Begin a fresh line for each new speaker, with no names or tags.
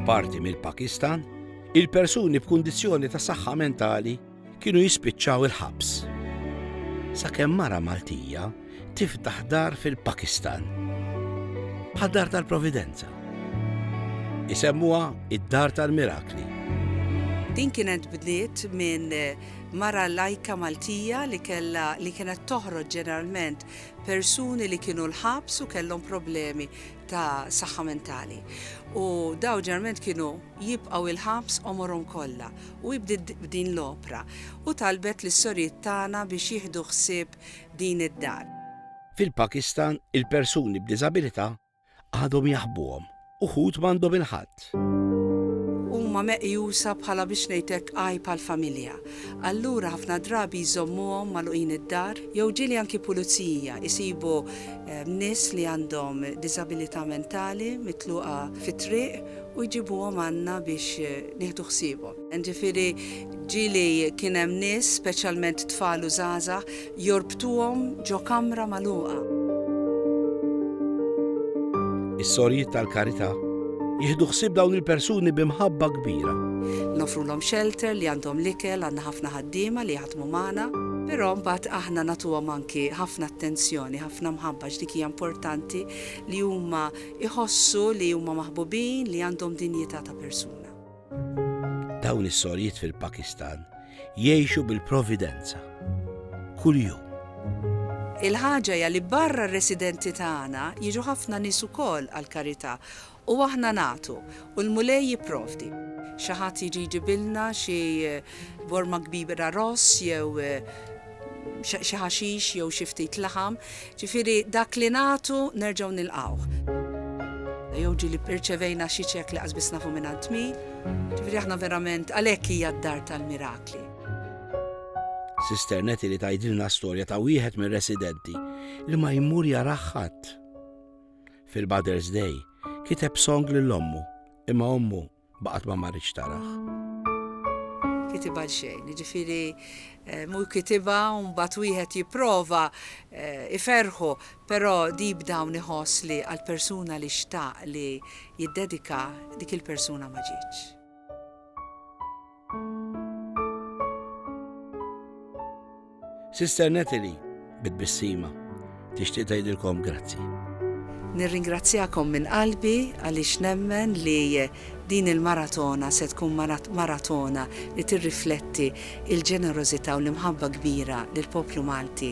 F'parti mill-Pakistan, il-persuni b'kundizzjoni ta' saħħa mentali kienu jispiċċaw il-ħabs. Sakemm mara Maltija tiftaħ dar fil-Pakistan. Bħal dar tal-Providenza. Isemmuha id-dar tal-mirakli. Din kienet bdiet minn mara lajka Maltija li kella li kienet toħroġ ġeneralment persuni li kienu l-ħabs u kellhom problemi ta' saħħa mentali. U daw ġerment kienu jibqgħu il-ħabs omorhom kollha u jibdid din l-opra u talbet lis sorijiet tagħna biex jieħdu ħsieb din id-dar. Fil-Pakistan, il-persuni b'diżabilità Għadhom jaħbuhom. Uħud m'għandhom il-ħadd. Huma meqjusa bħala biex ngħid hekk għajb għall-familja. Allura ħafna drabi jżommuhom magħluqin id-dar jew ġieli anki pulizija jsibu nies li għandhom diżabilità mentali mitluqa fit-triq u jġibuhom għandna biex nieħdu ħsiebhom. Jiġifieri ġieli kien hemm nies, speċjalment tfal u żgħażagħ, Jorbtuhom ġo kamra magħluqa. Is-Sorjiet tal-Karità jieħdu ħsieb dawn il-persuni bi mħabba kbira. Noffrulhom xelter li għandhom l-ikel, għandna ħafna ħaddiema li jaħdmu magħna. Però mbagħad aħna nagħtuhom anki ħafna attenzjoni, ħafna mħabba għax dik hija importanti li huma jħossu li huma maħbubin, li għandhom dinjità ta' persuna. Dawn is-sorjiet fil-Pakistan jgħixu bil-providenza. Kuljum. Il-ħaġa hija li barra r-residenti tagħna jiġu ħafna nies ukoll għall-karità u aħna nagħtu u l-Mulej jipprovdi. Xi ħadd jiġi jġibilna xi Borma kbira ross jew xi ħaxix jew xi ftit laħam, ġifieri dak li nagħtu nerġgħu nilqgħuh. Jew ġieli rċevejna xi ċekk li qasbiss nafu mingħand min, ġifieri aħna verament għalhekk hija d-dar tal-mirakli. Sister Nettie li tgħidilna storja ta' wieħed mir-residenti li ma jmur jarah ħadd. Fil-Mother's Day kiteb song lil ommu, imma ommu Baqgħet ma marritx tarah. Kitibha għal xejn, jiġifieri mhu kitibha u mbagħad wieħed jipprova iferrħu, però deep down iħoss li għall-persuna li xtaq li jiddedika dik il-persuna ma ġietx. Sister Natalie, bi tbissima, tixtieq tgħidilkom grazzi. Nirringrazzjakom minn qalbi għaliex nemmen li din il-maratona se tkun maratona li tirrifletti l-ġenerożità u l-imħabba kbira li l-poplu Malti